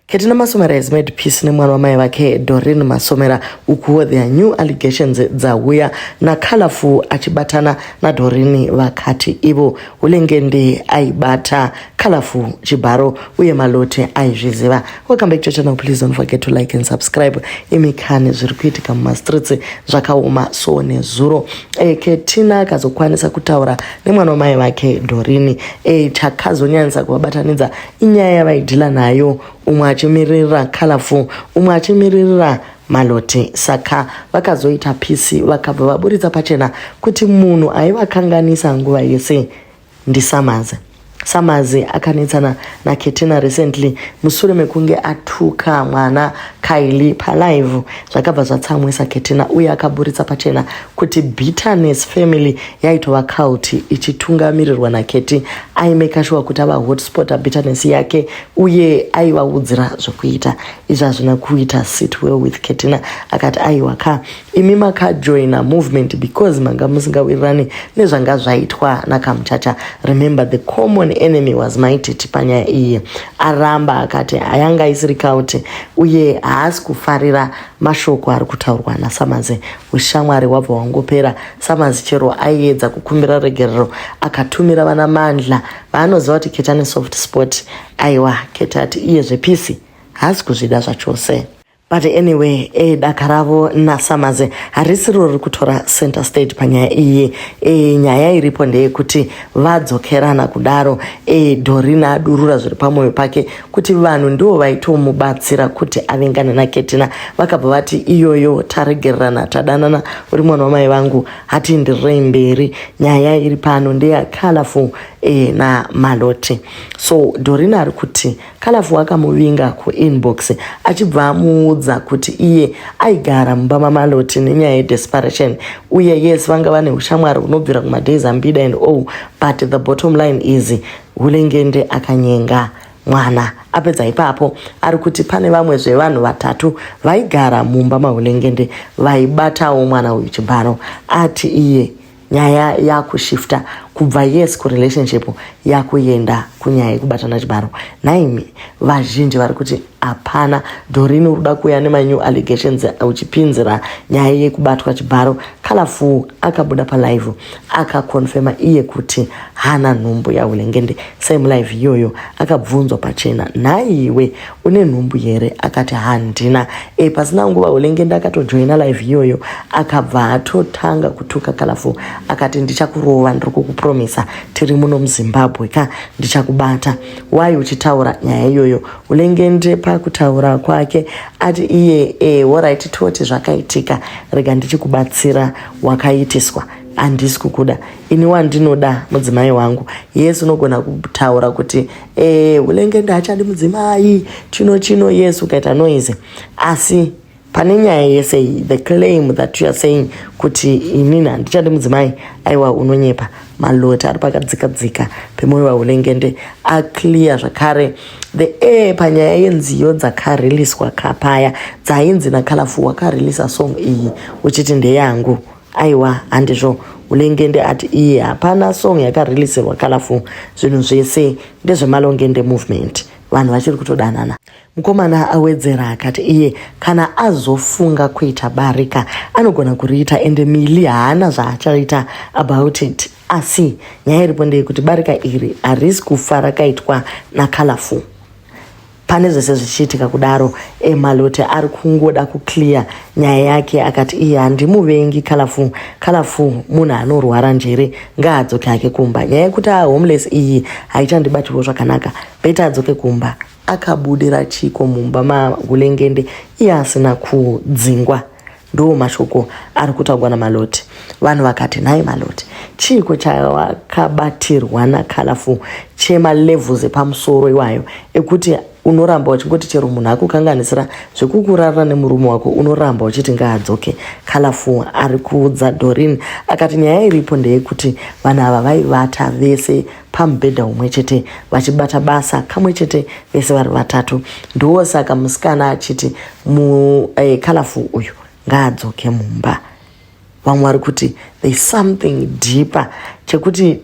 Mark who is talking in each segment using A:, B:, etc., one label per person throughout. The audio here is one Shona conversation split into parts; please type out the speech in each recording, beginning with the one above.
A: Ketina Masomera has made peace nemwana wamai vake Doreen Masomera ukuwo their new allegations dzauya naColorful achibatana naDoreen vakati ivo Hulengende aibata Colorful chibharo uye malote aizviziva. Welcome back to channel please don't forget to like and subscribe. Imi kani zviri kuitika mumastreets zvakaoma so nezuro e, Ketina akazokwanisa kutaura nemwana wamai vake Doreen e, chakazonyanyisa kuvabatanidza Inyaya yavaidhila nayo umwe achimiririra Colorful umwe achimiririra Malote saka vakazoita peace vakabva vaburitsa pachena kuti munhu aivakanganisa nguva yese ndiSamazi. Samazi akanetsana naKetina recently musure mekunge atuka mwana Kylie palive zvakabva zvatsamwisa ketina uye akaburitsa pachena kuti bitterness family yaitova cult ichitungamirirwa naketi aimeka shuwa kuti ava hotspota bitterness yake uye aivaudzira zvekuita izvi hazvina kuita sit well with ketina akati aiwa ka imi makajoina movement because manga musingawirirani nezvanga zvaitwa nakamuchacha remember the common enemy was maititi panyaya iyi aramba akati ayanga isiri cult uye haasi kufarira mashoko ari kutaurwa nasamazi ushamwari wabva wangopera samazi chero aiedza kukumbira regerero akatumira vana mandla vaanoziva kuti ketani soft sport aiwa keta ati iye zvepisi haasi kuzvida zvachose but anyway e daka ravo nasamaze harisiro riri kutora center state panyaya iyi e nyaya iripo ndeyekuti vadzokerana kudaro e dorina adurura zviri pamwoyo pake kuti vanhu ndivo vaitomubatsira kuti avengane naketina vakabva vati iyoyo taregererana tadanana uri mwana wamai vangu hatiindirirei mberi nyaya iri pano ndeya colorful e, namalote so dorina ari kuti colorful akamuvinga kuinbox achibva amuudza kuti iye aigara mumba mamalote nenyaya yedesperation uye yes vanga vane ushamwari hunobvira kumadays ambida and o but the bottom line is Hulengende akanyenga mwana apedza ipapo ari kuti pane vamwe zvevanhu vatatu vaigara mumba mahulengende vaibatawo mwana uyu chibharo ati iye nyaya yakushifta kubva yes kurelationship yakuenda kunyaya yekubatana chibharo nhaimi vazhinji vari kuti Hapana, Doreen uri kuda kuuya nema new allegations uchipinzira nyaya yekubatwa chibharo. Colorful akabuda pa live akaconfirma iye kuti hana nhumbu yahulengende. Same live iyoyo akabvunzwa pachena, nhai iwe une nhumbu here? Akati handina. E, pasina nguva hulengende akatojoina live iyoyo akabva atotanga kutuka Colorful akati ndichakurova ndiri kukupromisa tiri muno muZimbabwe ka ndichakubata. Why uchitaura nyaya iyoyo Ulengende pakutaura kwake ati iye e, horaiti toti zvakaitika rega ndichikubatsira wakaitiswa handisi kukuda ini wandinoda mudzimai wangu yes unogona kutaura kuti e, ulengende hachadi mudzimai chino chino yes ukaita noise asi pane nyaya yese iyi the claim that you are saying kuti inini handichadi mudzimai aiwa unonyepa maloti ari pakadzika dzika pemoyo vaulengende aclear zvakare the air panyaya yenziyo dzakariliswa kapaya dzainzi nakalafu wakarelisa song iyi uchiti ndeyangu aiwa handizvo ulengende ati iye hapana song yakarelisirwa kalafu zvinhu zvese ndezvemalongende movement vanhu vachiri kutodanana Mukomana awedzera akati iye kana azofunga kuita barika anogona kuriita ende Mili haana zvaachaita about it asi nyaya iripo ndeyekuti barika iri harisi kufa rakaitwa naColorful pane zvese zvichiitika kudaro emalote ari kungoda kuclear nyaya yake akati iye handimuvengi calafu calafu munhu anorwara njere ngaadzoke hake kumba nyaya yekuti ahomeless iyi haichandibatiwo zvakanaka beta adzoke kumba Akabudira chiiko mumba maHulengende iye asina kudzingwa? Ndiwo mashoko ari kutaurwa naMaloti. Vanhu vakati, nhai Maloti, chiiko chawakabatirwa naColorful chemalevels epamusoro iwayo ekuti unoramba uchingoti chero munhu akukanganisira zvekukurarira nemurume wako unoramba uchiti ngaadzoke? Colorful ari kuudza Doreen akati nyaya iripo ndeyekuti vanhu ava vaivata vese pamubhedha umwe chete vachibata basa kamwe chete vese vari vatatu ndiwo saka musikana achiti mukalafu eh, uyu ngaadzoke mumba vamwe vari kuti there something deeper chekuti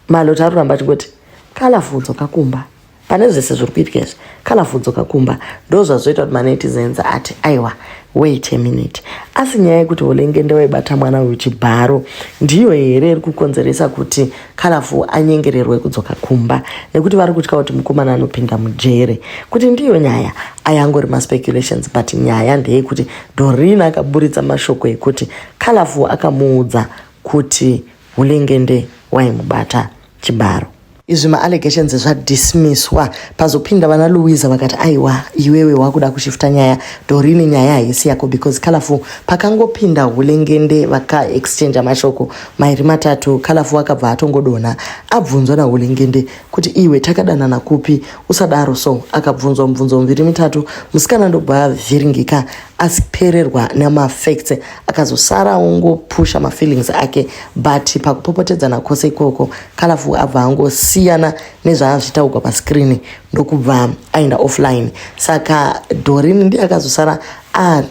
A: malota ari kuramba achingoti kalafu dzoka kumba pane zvese zviri kuitika izvi colorful dzoka kumba ndo zvazoita kuti manetizens ati aiwa wait a minute asi nyaya yekuti holengende waibata mwana uyu chibharo ndiyo here iri kukonzeresa kuti colorful anyengererwe kudzoka kumba nekuti vari kutya kuti mukomana anopinda mujere kuti ndiyo nyaya ayangori maspeculations but nyaya ndeyekuti dorin akaburitsa mashoko ekuti colorful akamuudza kuti hulengende waimubata chibharo. Izvi ma allegations zva dismisswa pazopinda vana Luiza vakati aiwa iwewe wakuda kushifta nyaya Dorine nyaya haisi yako because Colorful pakangopinda Hulengende vaka exchange mashoko mairi matatu Colorful akabva atongodonha abvunzwa na Hulengende kuti iwe takadanana kupi usadaro so akabvunzwa mubvunzo miviri mitatu musikana ndobva avhiringika asipererwa nema facts akazosara ongopusha mafeelings ake but pakupopotedzana kwose ikoko kalafu abva angosiyana nezvaazvitaugwa pascreen ndokubva aenda offline saka dorin ndiye akazosara a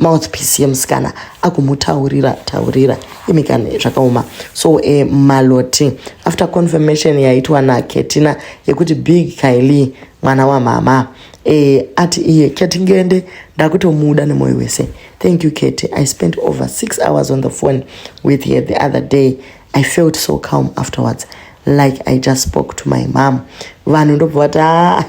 A: mouthpiece yemusikana akumutaurira taurira imikani zvakaoma so e, maloti after confirmation yaitwa naketina yekuti big kaili mwana wamama e, ati iye ketingende ndakutomuda nemwoyo wese Thank you, Katie. I spent over six hours on the phone with her the other day. I felt so calm afterwards. Like I just spoke to my mom. Vanhu ndobva vati ah,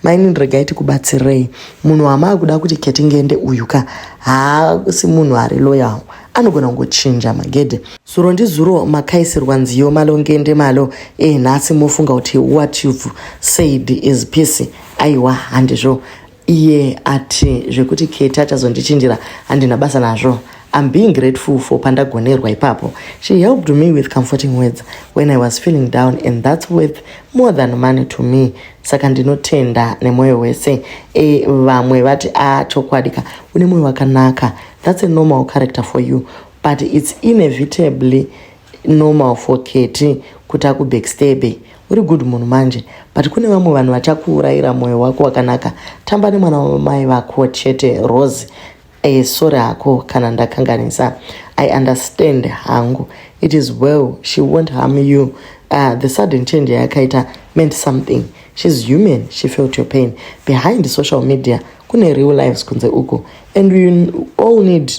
A: maini ndiregai tikubatsirei. Munhu wamaa kuda kuti Katie ngende uyu ka haasi munhu ari loyal. Anogona kungochinja magede. Zuro ndizuro makaisirwa nziyo malo ngende malo. Eh, nhasi mofunga kuti what you've said is peace. Aiwa handizvo. iye ati zvekuti keti achazondichinjira handina basa nazvo I'm being grateful for Pandagonerwa ipapo. She helped me with comforting words when I was feeling down and that's worth more than money to me. Saka ndinotenda nemoyo wese. E, vamwe vati a ah, chokwadi ka une moyo wakanaka. That's a normal character for you but it's inevitably normal for Katie kuti akubackstabe Uri good munhu manje but kune vamwe vanhu vachakuurayira moyo wako wakanaka tamba nemwana wamai vako chete Rose eh, sorry hako kana ndakanganisa I understand hangu it is well she won't harm you uh, the sudden change yayakaita meant something she's human she felt your pain behind social media kune real lives kunze uko and we all need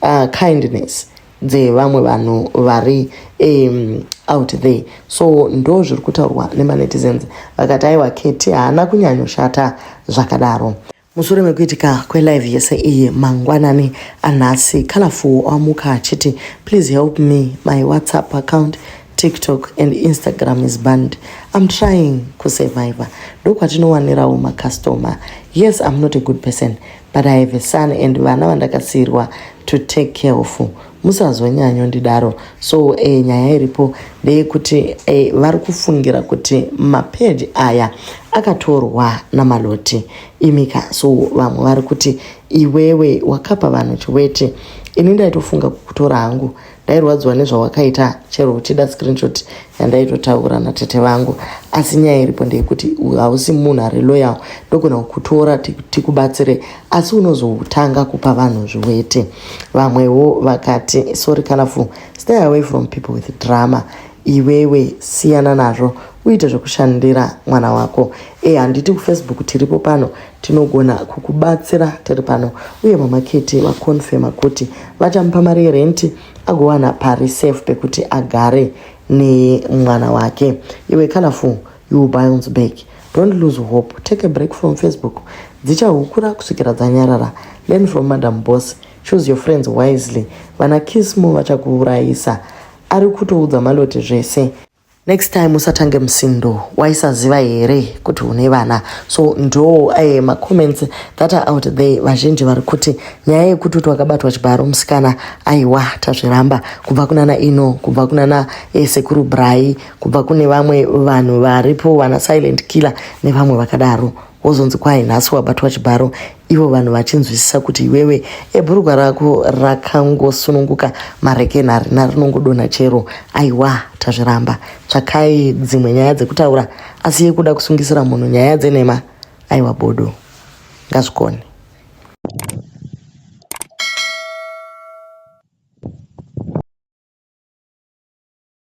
A: uh, kindness dzevamwe vanhu vari um, out there so ndo zviri kutaurwa nemanetizens vakati aiwa keti haana kunyanyoshata zvakadaro mushure mekuitika kwelive yese iyi mangwanani anhasi colorful amuka achiti please help me my whatsapp account tiktok and instagram is banned i'm trying kusurvivor ndokwatinowanirawo macustomer yes i'm not a good person but i have a son and vana vandakasiirwa to take care of musazonyanyondidaro so e, nyaya iripo ndeyekuti e, vari kufungira kuti mapeji aya akatorwa namaloti imika so vamwe vari kuti iwewe wakapa vanhu chiweti ini ndaitofunga kukutora hangu ndairwadziwa nezvawakaita chero uchida screenshot yandaitotaura natete vangu asi nyaya iripo ndeyekuti hausi munhu ari loyal ndogona kukutora tikubatsire asi unozotanga kupa vanhu zviwete vamwewo vakati sorry kanafu stay away from people with drama iwewe siyana nazvo uite zvekushandira mwana wako e handiti kufacebook tiripo pano tinogona kukubatsira tiri pano uye mama keti vakonfema kuti vachamupa mari yerenti agowana pari safe pekuti agare nemwana wake iwe colorful you bounce back don't lose hope take a break from facebook dzichahukura kusvikira dzanyarara learn from madam boss choose your friends wisely vana kismo vachakuurayisa ari kutoudza malote zvese Next time usatange musindo waisaziva here kuti une vana so ndo eh, macomments that are out there vazhinji vari kuti nyaya yekuti kuti wakabatwa chibharo musikana aiwa tazviramba kubva kunana ino kubva kunana eh, sekuru brai kubva kune vamwe vanhu varipo vana silent killer nevamwe vakadaro wozonzi kwai nhasi wabatwa chibharo ivo vanhu vachinzwisisa kuti iwewe ebhurugwa rako rakangosununguka marekeni harina rinongodonha chero aiwa tazviramba tsvakai dzimwe nyaya dzekutaura asi yekuda kusungisira munhu nyaya dzenhema aiwa bodo ngazvikone